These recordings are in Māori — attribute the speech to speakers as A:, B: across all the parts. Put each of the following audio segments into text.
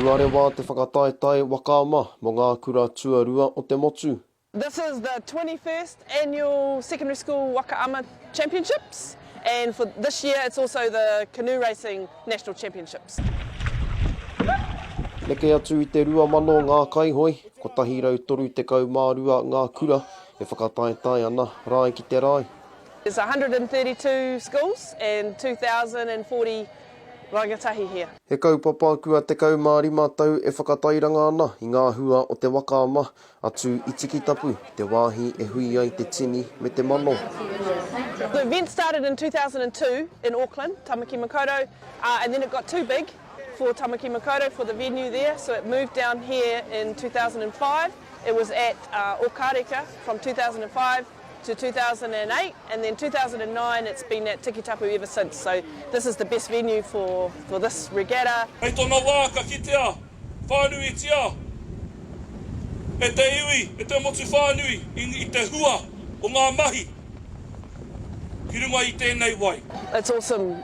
A: Tuarewa te whakataetae waka ama mo nga kura tuarua o te motu. This is the
B: twenty first annual Secondary School Waka Ama Championships and for this year it's also the Canoe Racing National Championships.
A: Neke atu i te rua mano ngā kaihoi, kotahi rau toru tekau mā rua ngā kura, E whakataetae ana rae ki te rae. There's
B: 132 schools and 2040 rangatahi here. He kaupapa kua
A: 15 tau e whakatairanga ana i ngā hua o te waka ama, atu i Tikitapu, te wāhi e hui ai te tini me te mano. The
B: event started in 2002 in Auckland, Tamaki Makaurau, and then it got too big For Tamaki Makaurau for the venue there so it moved down here in 2005 it was at Okareka from 2005 to 2008 and then 2009 it's been at Tikitapu ever since so this is the best venue for for this regatta. Hei tona wā ka
C: kitea whānuitia e te iwi, e te motu whānui i te hua o ngā mahi ki runga i tēnei wai. It's awesome.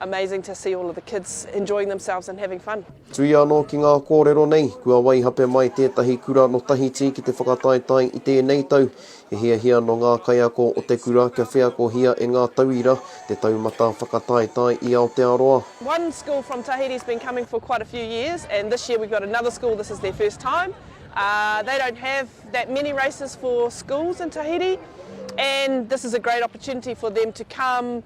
B: Amazing to see all of the kids enjoying themselves and having fun. Tuia anō ki ngā
A: kōrero nei, kua waihape mai tētahi kura nō Tahiti ki te whakataetae i tēnei tau. He hiahia nō ngā kaiako o te kura kia wheakohia e ngā tauira te taumata whakataetae i Aotearoa. One school from
B: Tahiti has been coming for quite a few years and this year we've got another school this is their first time. Uh, they don't have that many races for schools in Tahiti and this is a great opportunity for them to come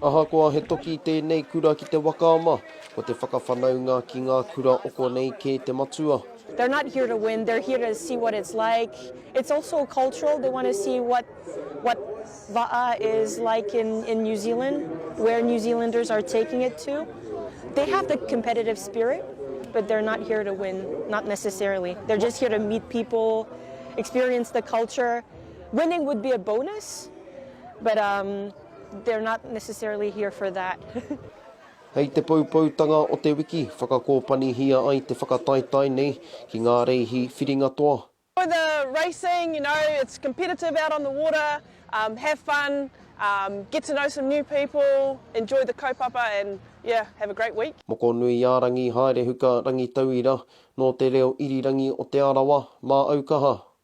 A: Ahakoa he toki tēnei kura ki te waka ama, ko te whakawhanaunga ki ngā kura o konei kē te matua. They're not here to
D: win, they're here to see what it's like. It's also cultural, they want to see what what va'a is like in in New Zealand, where New Zealanders are taking it to. They have the competitive spirit, but they're not here to win, not necessarily. They're just here to meet people, experience the culture. Winning would be a bonus, but um they're not necessarily here for that. Hei
A: te poupoutanga o te wiki, whakakōpanihia ai te whakataetae nei ki ngā reihi whiringa toa. For the
B: racing, you know, it's competitive out on the water, um have fun, um get to know some new people, enjoy the kaupapa and yeah, have a great week. Mokonuiārangi
A: Haerehuka Rangitauira Nō te reo irirangi o Te Arawa, Māaukaha,